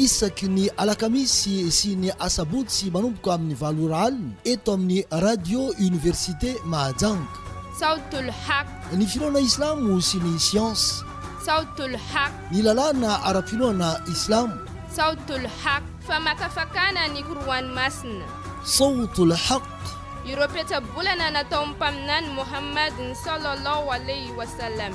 Isaky ny alakamisy sy ny asabotsy manomboka amin'ny valo ora alina eto amin'ny Radio Université Mahajanga. Sawt al-Haq. Ny finoana islamo sy ny siansa. Sawt al-Haq. Ny lalàna ara-pinoana islamo. Sawt al-Haq. Famakafakana ny Qur'an masina. Sawt al-Haq. Ireo petsa-bolana nataon'ny Mpaminany Mohammad-ny sallallahu alayhi wa sallam.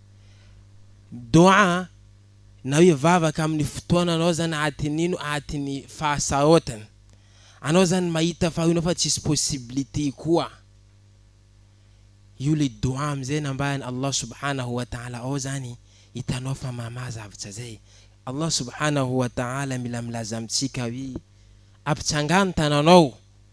Doa an! Nao hivavaka amin'ny fotoana anao zany aty nino aty ny fahasaotana. Anao zany mahita fa ino fa tsisy possibilité koa. Io le doa amizay nambaran'i Allah subhanahu wa ta'ala ao zany hitanao fa mamaha zavtra zay. Allah subhanahu wa ta'ala mila milaza amintsika hoe, ampitsangano tananao.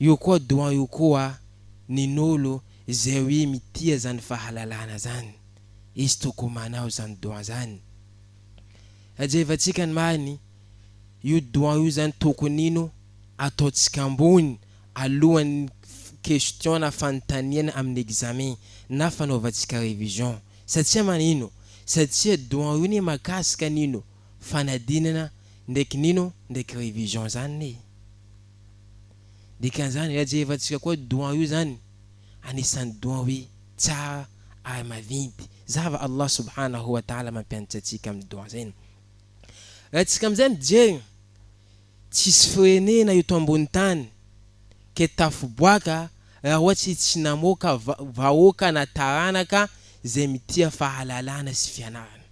Io koa doan io koa ny nolo zay oe mitia zany fahalalana zany izy toko manao zany doan zany ajevantsika many io doan io zany tokonino ataontsika ambony alohan'ny question na fanontaniana amin'ny examen na fanaovantsika revision satsia manino satsia doan io ne makasika nino fanadinana ndraiky nino ndraiky revision zany ne. Dikan'izany ilay jerevantsika koa doua io zany anisan'ny doua tsara ary mavinty zava Allah subhanahu wa ta'ala mampianatra antsika amin'ny doua zay no raha tsika amizay mijery tsisy firenena eto ambony tany ke tafiboaka raha ohatry tsy namoaka vahoaka na taranaka zay mitia fahalalana sy fianarana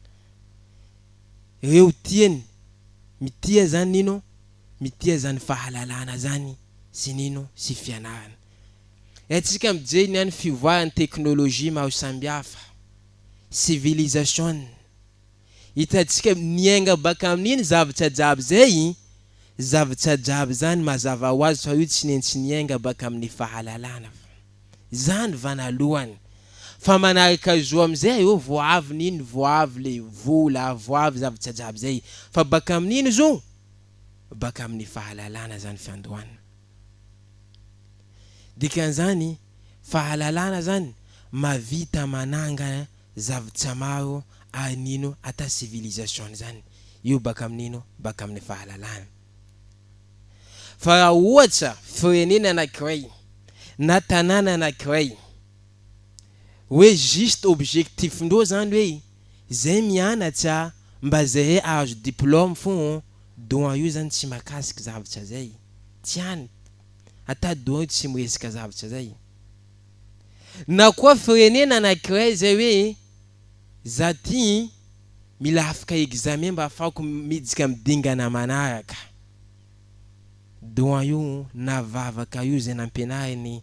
reo tiany mitia zany ino Mitia zany fahalalana zany sy nino sy fianarana. Haintsika mijery ny any fivoaran'ny teknolojia maro sambihafa, civilisation. Hitantsika miainga baka amin'iny zavatra jiaby zay, zavatra jiaby zany mazava ho azy fa io tsy nentsy niainga baka amin'ny fahalalana fa. Zany vanalohany. Fa manaraka zo amizay areo vao avy nino vao avy le vola vao avy zavatra jiaby zay. Fa baka amin'ino zo? baka amin'ny fahalalana zany fiandohana. Dikan'izany fahalalana zany mavita manangana zavtsa maro ary nino ata civilisation zany io baka amin'ino baka amin'ny fahalalana. Fa raha ohatra firenena anakiray na tanàna anakiray hoe juste objectif-ndreo zany hoe, Zay mianatsa mba zahe ahazo diplôme fô on doan io zany tsy makasik zavatsa zay tsy any ata doan io tsy miresaka zavatsa zay na koa firenena anakiray zay hoe za ty mila afaka examen mba afahako miditsy am dingana manaraka doan io na vavaka io zay nampianariny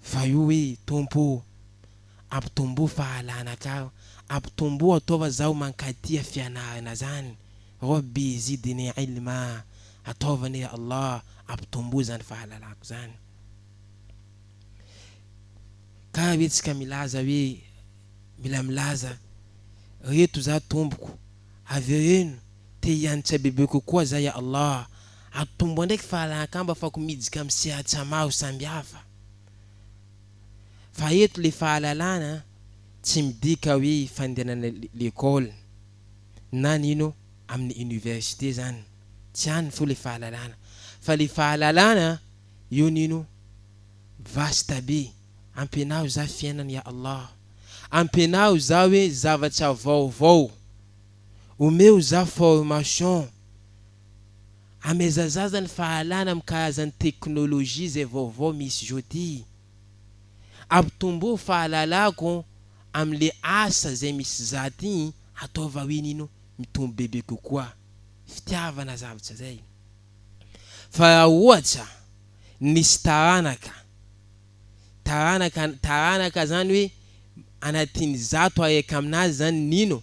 Fa io hoe Tompo o, ampitomboa fahalana ka, ampitomboa ataova zaho mankatia fianarana zany, Rabbi zidni ilma, ataova anie ya Allah ampitomboa zany fahalalako zany. Kara ve tsika milaza hoe mila milaza reto za tompoko, avereno te hiantra bebe kokoa za ya Allah, Atomboha ndraiky fahalankamba fako mijika amin'ny sehatsa maro samihafa. Fa eto le fahalalana tsy midika hoe fandehanana lekole na ny ino amin'ny université zany tsy any fo le fahalalana fa le fahalalana io ny ino vaste be ampianaro za fiainana ya Allah ampianaro za hoe zavatra vaovao omeo za formation Amaizazaza ny fahalana mikahaza ny teknolojia zay vaovao misy zao ty. Ampitomboa fahalalako amin le asa zay misy za ty ataova hoe nino mitombo bebe kokoa fitiavana zavatra zay. Fa ra ohatra nisy taranaka, taranaka, taranaka zany hoe anatin zato aek aminazy zany nino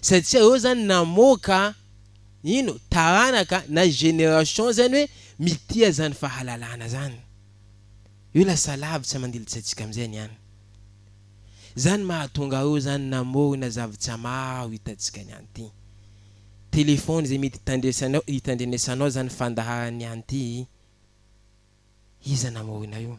Sady tsy aeo zany namoaka ino taranaka na génération zany hoe mitia zany fahalalana zany. Io lasa lavitra mandilitsaitsika amizay ny any. Zany mahatonga aeo zany namorona zavtra maro itantsika ny any ty. Téléphone zay mety itandresanao itandrenesanao zany fandaharan'ny any ty. Iza namorona io?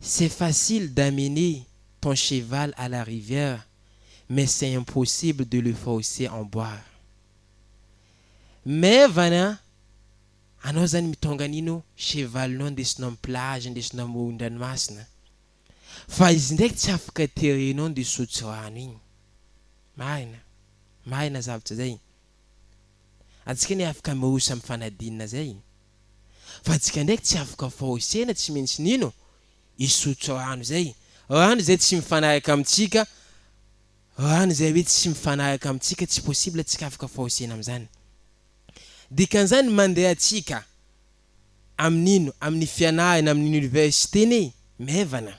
C'est facile d'amener ton cheval à la rivière mais c'est impossible de le forcer en boire. Maivana an! Anao zany mitônga an'ino cheval-nao ndesinao am plage ndesinao amoron-dranomasina fa izy ndraiky tsy afaka terenao ndeha hisotro rano igny. Marina, marina zavatra zay. Antsika anie afaka miroso am fanadinana zay. fa tsika ndraiky tsy afaka forcena tsy mintsy nino hisotro rano izay rano izay tsy mifanaraka amintsika rano izay hoe tsy mifanaraka amintsika tsy possible tsika afaka forcena amizany dikan'izany mandeha atsika amin'ino amin'ny fianarana amin'ny université ny maivana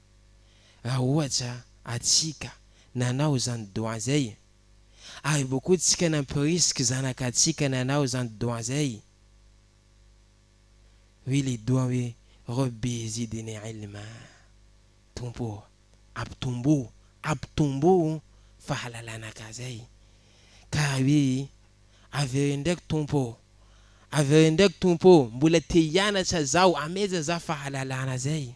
Raha ohatra atsika nanao izany doha zay, ary bokotsika nampirisika zanaka tsika nanao izany doha zay, hoe le doha hoe Rabbi zidni ilma, Tompo ô, ampitombo, ampitombo fahalalana ka zay, ka hoe avereno ndraiky Tompo ô, avereno ndraiky Tompo ô, mbola te hianatra zaho, ameja za fahalalana zay.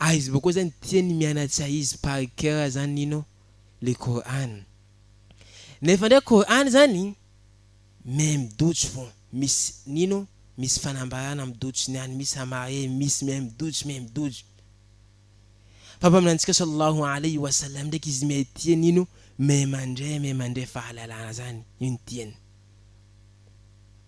Aiza moa koa zany tia ny mianatra izy par cœur zany Nino le Coran. Nefa ndray Coran zany même doute fô misy Nino misy fanambarana am doute ny any misy amarre misy même doute même doute. Fa mpaminantsika Sallallahu Alayhi wa Sallam ndraiky izy mihay tia Nino mihay mandre mihay mandre fahalalana zany io ny tiany.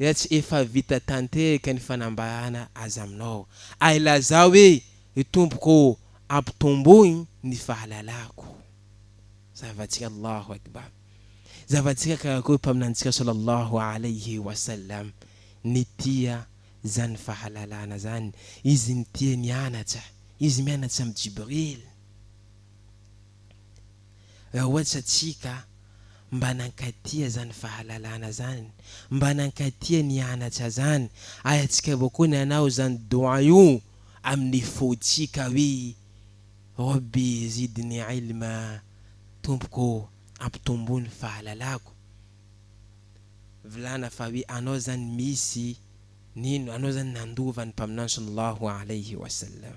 Raha tsy efa vita tanteraka ny fanambarana azy aminao, ary lazao hoe, Ry Tompoko ô, ampitomboy ny fahalalako. Zava-tsy Allahu Akbar. Zava-tsika karakory Mpaminanitsika Sallallahu Alaihi Wasallam ny tia zany fahalalana zany, izy nitia nianatra, izy mianatra amin'i Jibril. Raha ohatra tsia ka, mba nankatia zany fahalalana zany, mba nankatia nianatra zany, ary atsika avao koa ny anao zany doua io amin'ny fo tsika hoe, Rabbi zidni ilma, Tompoko ô ampitomboa ny fahalalako, vilana fa hoe anao zany misy, nino, anao zany nandova ny mpaminany sallallahu alayhi wa sallam.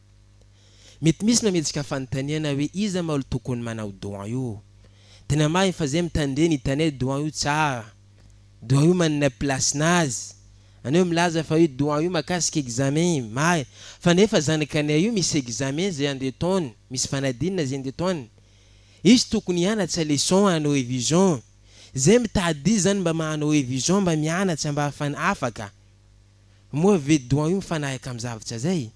Mety misy mametraka fanontaniana hoe iza ma olo tokony manao don io? Tena marigny fa zay mitandre nitane don io tsara. Don io manana place nazy. Aneo milaza fa io don io makasika examen io, marigny. Fa nefa zanaky anay io misy examen zay andeha ataony, misy fanadinana zay andeha ataony. Izy tokony hianatsa leçon hanao revision. Zay mitady izy zany mba mahanao revision mba mianatsa mba afany afaka. Moa ve doan io mifanahaka am zavatra zay?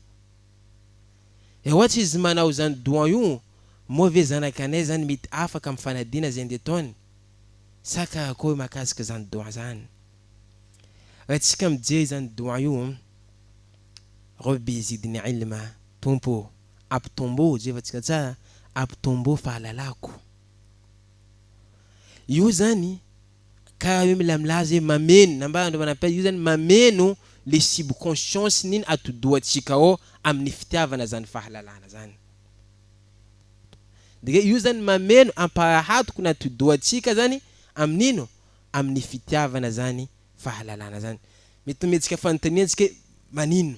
Eh ohatr izy manao zany doan io moa ve zanak anay zany mety afaka am fanadina zay nde taony? Sa karakory makasika zany doan zany? Ra tsika mijery zany doan io Rabbi zidni ilma Tompo o ampitombo jerevantsika tsara ampitombo fahalalako io zany Karaha hoe mila milaza hoe mameno, nambaran'ireo manam-pahaizana, io zany mameno le subconscience n'iny atidohantsika ao amin'ny fitiavana zany fahalalana zany. Dia io zany mameno amparahatoko ny atidohantsika zany amin'ino? Amin'ny fitiavana zany fahalalana zany. Mety ho mihetsika fanontaniantsika hoe manino?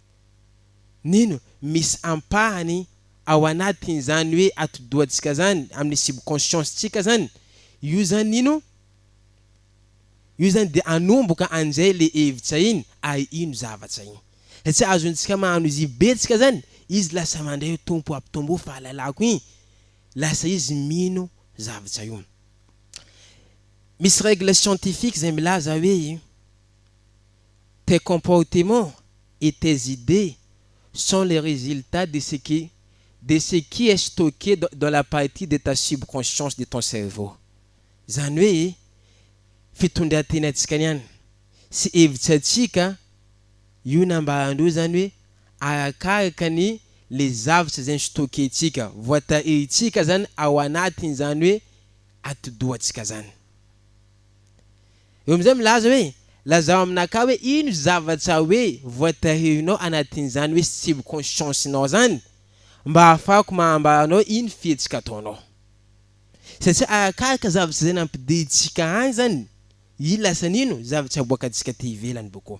Nino, misy ampahany ao anatin zany hoe atidohantsika zany, amin'ny subconscience tsika zany, io zany Nino, io zany dia anomboka anizay le hevitra iny ary ino zavatra iny. Satria azontsika mahano izy ibentsika zany, izy lasa mandray hoe Tompo ampitomboy fahalalako iny, lasa izy mino zavatra io. Misy règle scientifique zay milaza hoe. Tes comportements et tes idees sont les résultats de ce que de ce qui est stocké dans dans la partie de ta subconscience de ton cerveau. Izany hoe fitondran-tenantsika niany sy hevitrantsika io nambaran-dreo izany hoe arakaraka ny le zavtra izay ni-stocker-tsika, voatahirintsika izany ao anatin'izany hoe atidohantsika izany. Eo amin'izay milaza hoe, Lazao aminakahy hoe ino zavatra hoe voatahirinao anatin'izany hoe subconscience-nao zany mba ahafahako maha-ambara anao iny fihetsika ataonao. Satria arakaraka zavatra izay nampidirintsika any zany iny lasa nino zavatra aboakantsika aty ivelany boko.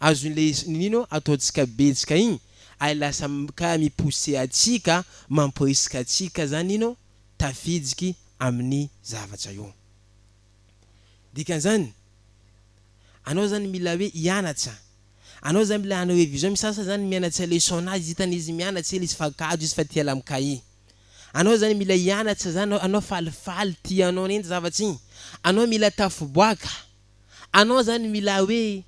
azon'ilay nino ataontsika betsaka iny ary lasa ka mi-pousser antsika, mamporisika antsika zany nino tafidiky amin'ny zavatra io. Dikan'izany, anao zany mila hoe hianatra, anao zany mila hanao révision, misy sasany zany mianatra leçon nazy hitany izy mianatra ela izy fa gadra izy fa tia la mi-cahier. Anao zany mila hianatra zany anao, anao falifaly tia anao ny zavatra iny, anao mila tafiboaka. Anao zany milay hoe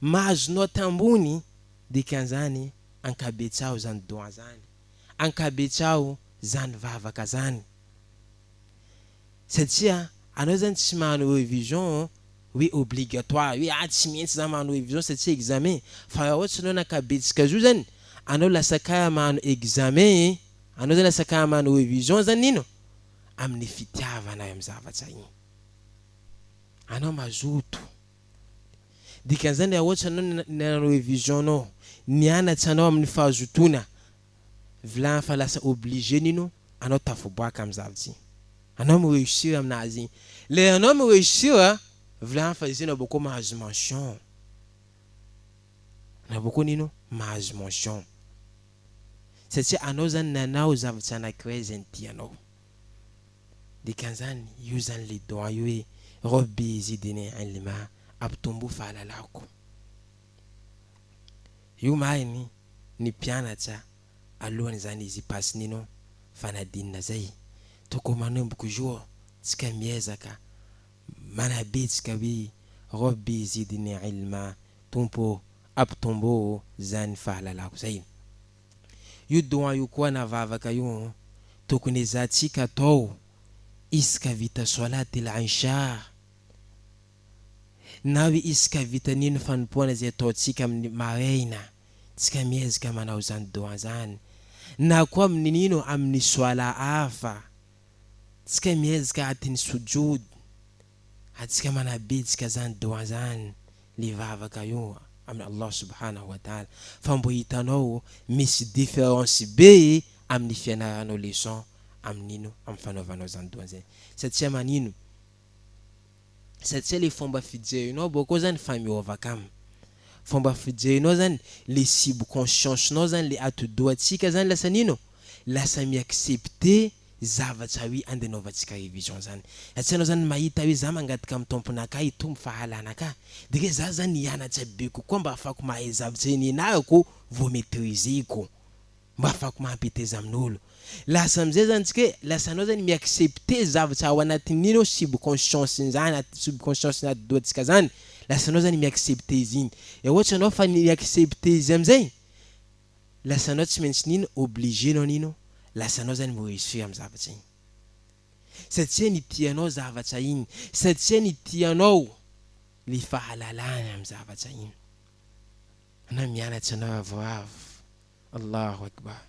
mahazo note ambony dikan'zany ankabetsao zany doyen zany, ankabetsao zany vavaka zany satria anao zany tsy mahanao revision hoe obligatoire hoe ah tsy mientsy za mahanao revision satsia examen fa ra ohatry anao nakabetsika zo zany anao lasa kara mahanao examen e anao zany lasa kara mahanao revision zany ino amin'ny fitiavana am zavatra iny. Anao mazoto. Dikan'izany raha ohatra anao ny nanao revision anao, nianatra anao amin'ny fahazotoana, vilany fa lasa obligé nino anao tafaboaka amin'ny zavtry. Anao mi reussir aminazy. Lera anao mi reussir, vilany fa izay anao boko mahazo mention. Anao boko nino mahazo mention. Satria anao zany nanao zavtry anakiray izay ny tianao. Dikan'izany, io izany ilay doa io hoe, Rabbi zidini ilma, ampitomboy fahalalako. Io mariny ny mpianatra alohan' izany izy hipass ny non fanadinana izay. Tokony manomboka jour tsika miezaka manabe tsika hoe, Rabbi zidini ilma, Tompo ô, ampitomboy izany fahalalako izay. Io doan io koa na vavaka io an, tokony ezahantsika atao isaka vita solat il isha na hoe isaka vita nino fanompoana izay ataontsika amin'ny maraina tsika miezaka manao zany doan zany na koa amin'ny nino amin'ny solat hafa tsika miezaka atin'ny sujud Atsika manabitsika zany doa zany le vavaka io amin Allah subhanahu wa ta'ala fa mbo hitanao misy difference be aminy fianaranao leçon aminino am fanaovanao zany doa zay satsia manino satsia le fomba fijerinao bakao zany efa miova kam fomba fijerinao zany le subconscience nao zany le atidoha tsika zany lasa nino lasa mi accepter zavatra hoe andeha anaovantsika révision zany raha tsy anao zany mahita hoe za mangataka amin'ny Tomponakah hitombo fahalanakah de re za zany hianatra be kokoa mba afahako mahay zavatra eny ianarako vao maîtriseko mba afahako mampeteza amin'olo lasa amizay zany tsika hoe lasa anao zany mi-accepter zavatra ao anatin'iny ao subconscience ny zany anaty subconscience ny atidohantsika zany lasa anao zany mi-accepter izy iny de ohatra anao fa mi-accepter izy amizay Lasanao tsy maintsy nino obligé nao nino lasanao zany mbo esoy am zavatra iny satsia ny tianao zavatra iny satsia ny tianao le fahalalana am zavatra iny anao mianatra anao avoavo Allahu Akbar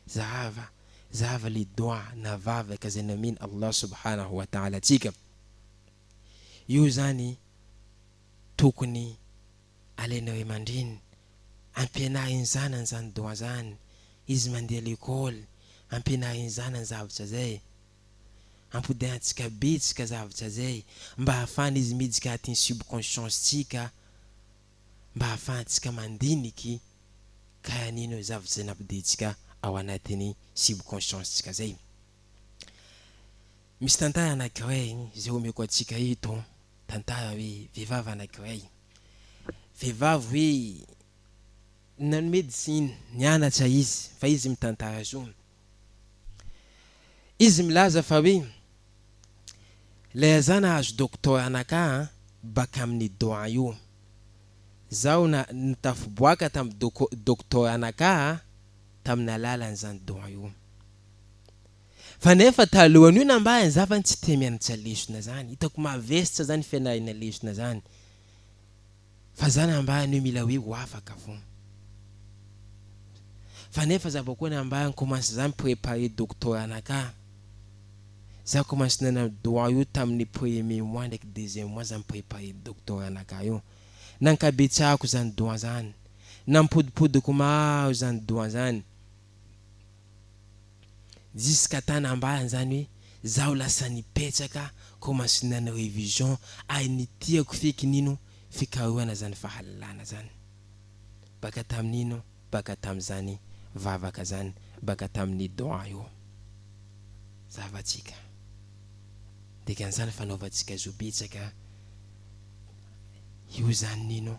zahava zahava le doua na vavaka zay nomen Allah subhanahu wa ta'ala antsika io zany tokony Alainao eo mandriny, ampianariny zanany zany droit zany, izy mandeha lekôly, ampianariny zanany zavatra zay. Ampodahantsika betsaka zavatra zay mba hahafahana izy midika atin'ny subconscience tsika, mba hahafahantsika mandiniky ka hanino zavatra zay nampodehantsika ao anatin'ny subconscience tsika zay. Misy tantara anakiray zay omeko atsika eto Tantara hoe vehivavy anankiray, vehivavy hoe nanao médecine, nianatra izy fa izy mitantara zo. Izy milaza fa hoe ilay aza nahazo doctorat naka an, baka amin'ny doha io. Zaho na nitafiboaka tamin'ny doko, doctorat naka an, tamin'ny alalan'izany doha io. Fa nefa talohan io nambahiny za fa tsy tia mianatra lesona zany, hitako mavestra zany fianarana lesona zany, fa za nambahiny hoe mila hoe ho afaka fona. Fa nefa za vao koa nambahiny commence za mi-preparer doctorat naka, za commence nanao droit io tamin'ny premier mois ndraiky deuxième mois za mi-preparer doctorat naka io, nankabetsahako zany droit zany, nampodipodiko maro zany droit zany, Jusqu'à tana ambany zany hoe zaho lasa nipetraka commence nanao révision ary ny tiako feky nino fikarohana zany fahalalana zany baka tamin'ino baka tamin'izany vavaka zany baka tamin'ny doigts io zavatsika dikan'izany fanaovantsika zo betsaka io zany nino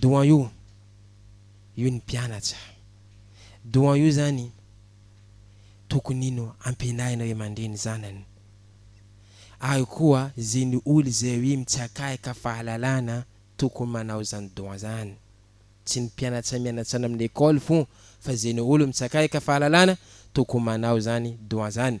Doyen io io ny mpianatra doyen io zany tokony ino ampianarina ray aman-dreny zanany ary koa ze ny olo ze ry mitsakaika fahalalana tokony manao zany doyen zany tsy ny mpianatra mianatra any amin'ny ecole fon fa ze ny olo mitsakaika fahalalana tokony manao zany doyen zany.